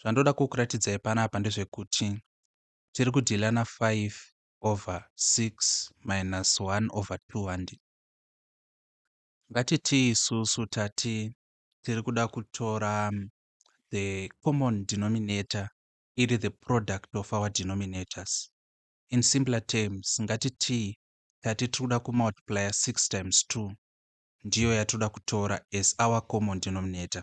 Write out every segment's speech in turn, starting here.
Zvandoda kukuratidzai panapa ndezvekuti tiri kudhila na 5 over 6 minus 1 over 2 handi. Ngatitii isusu tati tiri kuda kutora the common denominator iri the product of our denominators. In simpler terms, ngatitii tati tiri kuda kumultiplier 6 times 2 ndiyo yatiri kuda kutora as our common denominator.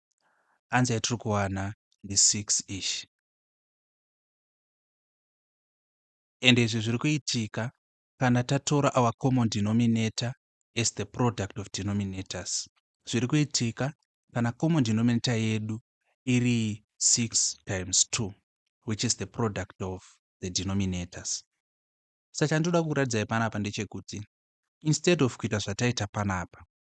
Answer yatiri kuwana ndi 6 ish. And izvi zviri kuitika kana tatora our common denominator as the product of denominators. Zviri kuitika kana common denominator yedu iri 6 times 2 which is the product of the denominators. Saka chandinoda kukuratidzai panapa ndechekuti instead of kuita zvataita panapa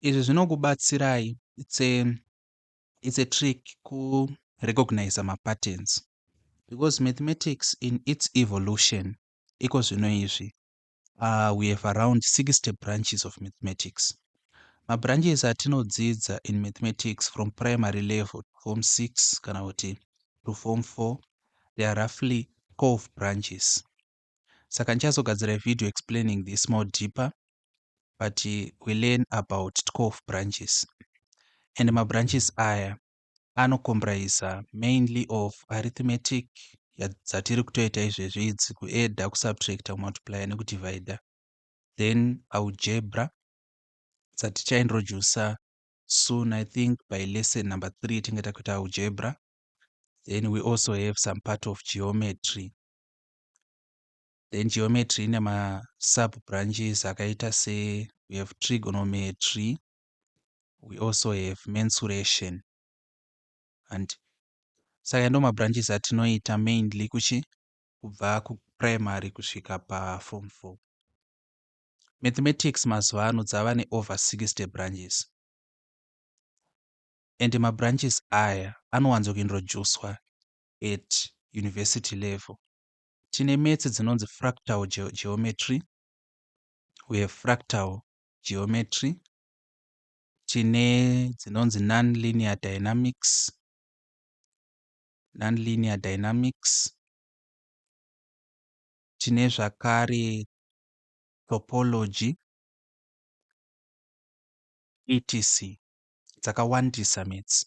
Izvi zvinokubatsirai it's a, it's a trick kurecognizer mapatterns because mathematics in its evolution iko zvino izvi uh, we have around 60 branches of mathematics mabranches atinodzidza in mathematics from primary level to form 6 kana kuti to form 4 they are roughly 12 branches saka ndichazogadzira video explaining this more deeper but we learn about 12 branches and mabranches aya anocomprise mainly of arithmetic dzatiri kutoita izvezvi idzi kuedda kusubtracta kumultiplya nekudivida then algebra dzatichaintroduca soon i think by lesson number three tinge takuita algebra then we also have some part of geometry Then geometry ine ma sub branches akaita se we have trigonometry, we also have mensuration and saka ndo mabranches atinoita mainly kuchi kubva kuprimary kusvika paform four mathematics mazuva ano dzava neover 60 branches and mabranches aya anowanzokuintroducwa at university level. Tine metsi dzinonzi fractal ge geometry, we have fractal geometry, tine dzinonzi non-linear dynamics, non-linear dynamics, tine zvakare topology, etc dzakawandisa metsi.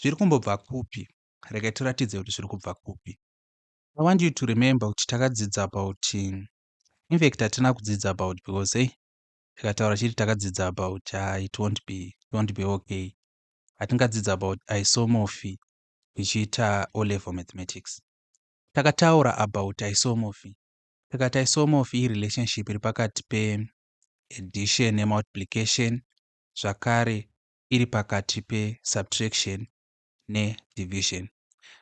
zviri kumbobva kupi regai tiratidze kuti zviri kubva kupi i want you to remember kuti takadzidza about infact hatina kudzidza about because hey tikataura chiri takadzidza about uh, it won't be it won't be okay hatingadzidza about isomorphy tichiita o level mathematics takataura about isomorphy tikati isomorphy irelationship iri pakati peaddition nemultiplication zvakare iri pakati pe subtraction ne division.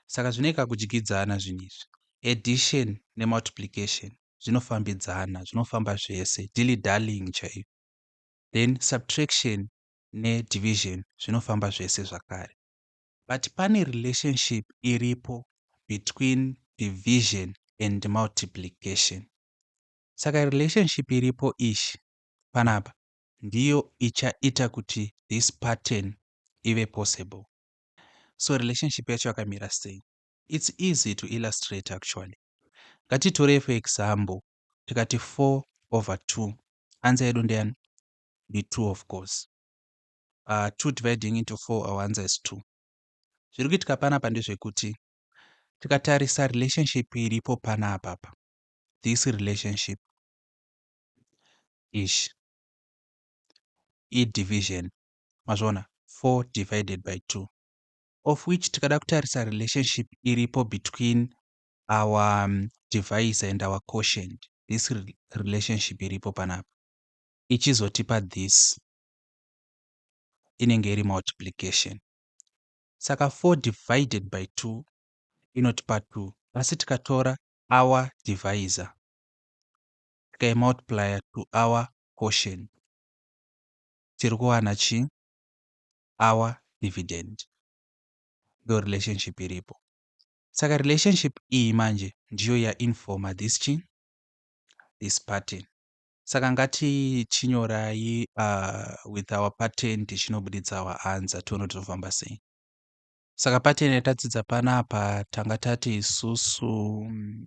Saka zvine kakudyidzana zvinhu izvi. Addition ne multiplication zvinofambidzana, zvinofamba zvese, dilly dallying chaiyo. Then subtraction ne division zvinofamba zvese zvakare. But pane relationship iripo between division and multiplication. Saka relationship iripo ishi panapa ndiyo ichaita kuti this pattern ive possible. So relationship yacho yakamira sei? It's easy to illustrate actually. Ngatitorei for example tikati 4 over 2. Answer yedu ndeyani? Ndi 2 of course. Uh, ah, 2 dividing into 4 our answer is 2. Zviri kuitika panapa ndezvekuti tikatarisa relationship iripo panapa apa this relationship ish idivision mazviona 4 divided by 2 of which tikada kutarisa relationship iripo between our um, device and our quotient this relationship iripo panapa ichizotipa this inenge iri multiplication saka 4 divided by 2 inotipa 2 asi tikatora our divisor tikai multiplier to our quotient tiri kuwana chi our dividend ndo relationship iripo saka relationship iyi manje ndiyo yainforma this chi this pattern saka ngatichinyorai uh, with our pattern tichinobuditsa our answer tione kuti tinofamba sei saka pattern yatadzidza panapa tanga tati isusu mm,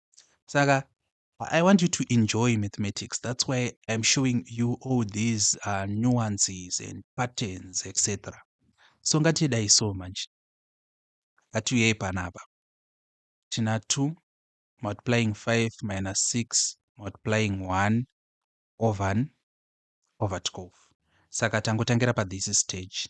saka I want you to enjoy mathematics. That's why I'm showing you all these uh, nuances and patterns, etc. So ngatidai so manje. Ngatiuyei panapa. Tina 2 multiplying 5 minus 6 multiplying 1 over over 12. Saka tangotangira pa this stage.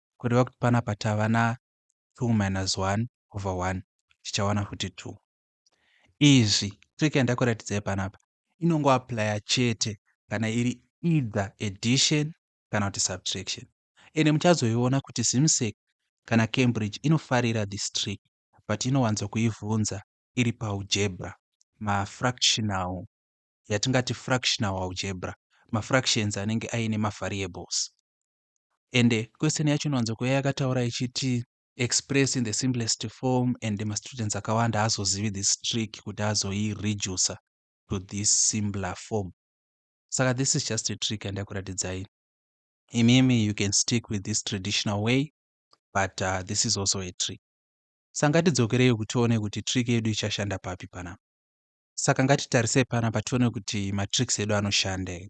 kureva kuti panapa tava na 2 minus 1 over 1 tichawana futi 2 izvi trick yandakuratidzai panapa inongoaplya chete kana iri either addition kana kuti subtraction ende muchazoiona kuti zimsec kana cambridge inofarira this trick but inowanzo kuivhunza iri paujebra mafractional yatingati fractional aujebra mafractions anenge aine mavariables and question yacho inowanzo kuuya yakataura ichiti express in the simplest form and mastudents akawanda haazozivi this trick kuti azoireducer to this simpler form saka this is just a trick yandakuratidzai imimi you can stick with this traditional way but uh, this is also a trick saka ngatidzokerei kuti tione kuti trick yedu ichashanda papi panapa saka ngatitarisei panapa tione kuti matricks edu anoshanda here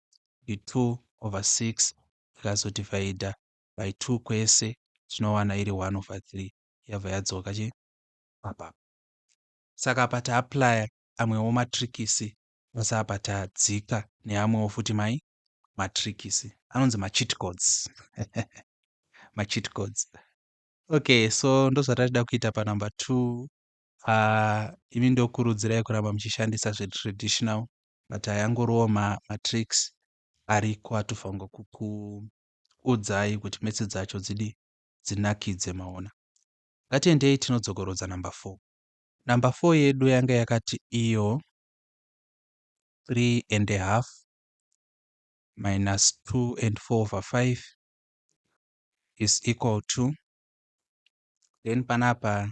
ndi 2 over 6 tikazodhivhaidha by 2 kwese tinowana iri 1 over 3 yabva yadzoka chi apa saka apa taaplaya amwewo matrikisi basa apa tadzika neamwewo futi mai matrikisi anonzi macheat codes macheat codes okay so ndozvatachida kuita panumber 2 Aah imi ndokurudzirai kuramba muchishandisa zvetraditional but aya angoriwo ma, matricks ariko atofanirwa kukuudzai kuti metse dzacho dzidi dzinakidze maona. Ngatiendei tinodzokorodza number four. Number four yedu yanga yakati iyo three and a half minus two and four over five is equal to then panapa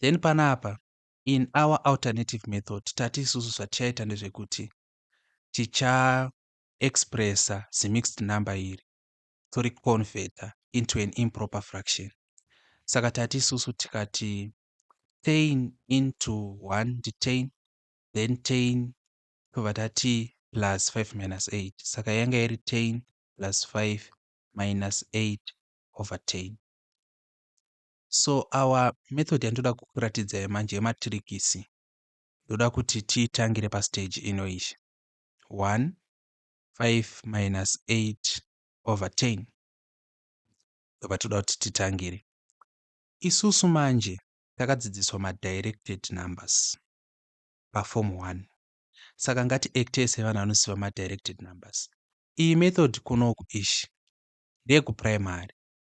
Then panapa in our alternative method tati isusu zvatichaita ndezvekuti ticha expressa zimixed number iri tori converter into an improper fraction saka tati isusu tikati tain into 1 nditain then tain tobva tati plus 5 minus 8 saka yanga iri tain plus 5 minus 8 over 10 So our method yandinoda kukuratidzai manje yematirikisi ndoda kuti tiitangire pastage ino iyi 1 5 minus 8 over 10 ndobva toda kuti titangire isusu manje takadzidziswa madirected numbers pafom 1 saka ngati acte sevanhu vanoziva madirected numbers iyi method kunoku ishi ndeyekuprimary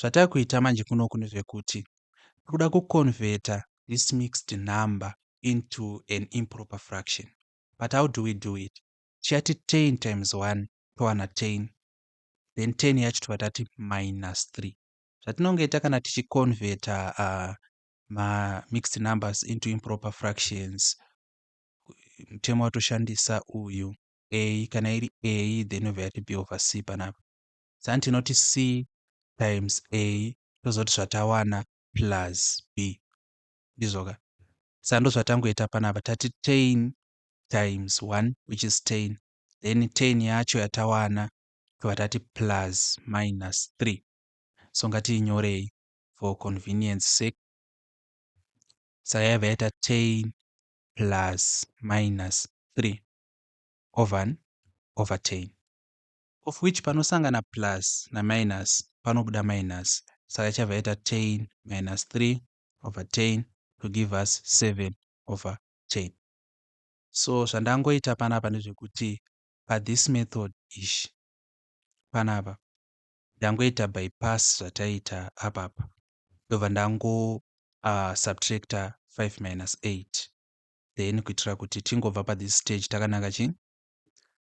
zvatave kuita manje kunoku ndezvekuti tiri kuda kuconverter this mixed number into an improper fraction but how do we do it tichati 10 times 1 towana 10 then 10 yacho tobva tati minus 3 zvatinongoita kana tichiconverter uh, mamixed numbers into improper fractions mutemo watoshandisa uyu a kana iri a then obva yati b over c panapa Sani tinoti C times A tozoti zvatawana plus B. Ndizvo ka? Saka ndozvatangoita panapa tati tain times 1 which is tain then tain yacho yatawana tobva tati plus minus 3 so ngatiinyorei for convenience sake saka yaiva yaita tain plus minus 3 over over tain Of which panosangana plus na minus panobuda minus saka ichabva yaita tan minus 3 over tan to give us 7 over tan. So zvandangoita panapa ndezvekuti pa this method ish panapa ndangoita bypass zvataita apapa ndobva ndango uh, subtracta 5 minus 8 then kuitira kuti tingobva pa this stage takananga chii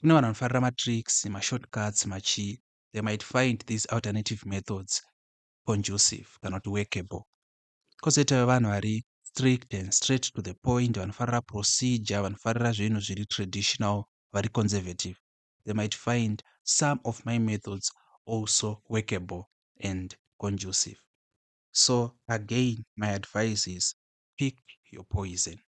Kune vanhu vanofarira matricks, mashortcuts, machii, they might find these alternative methods conducive kana kuti workable. Kozoitawo vanhu vari strict and straight to the point vanofarira procedure, vanofarira zvinhu zviri traditional, vari conservative. They might find some of my methods also workable and conducive. So again, my advice is pick your poison.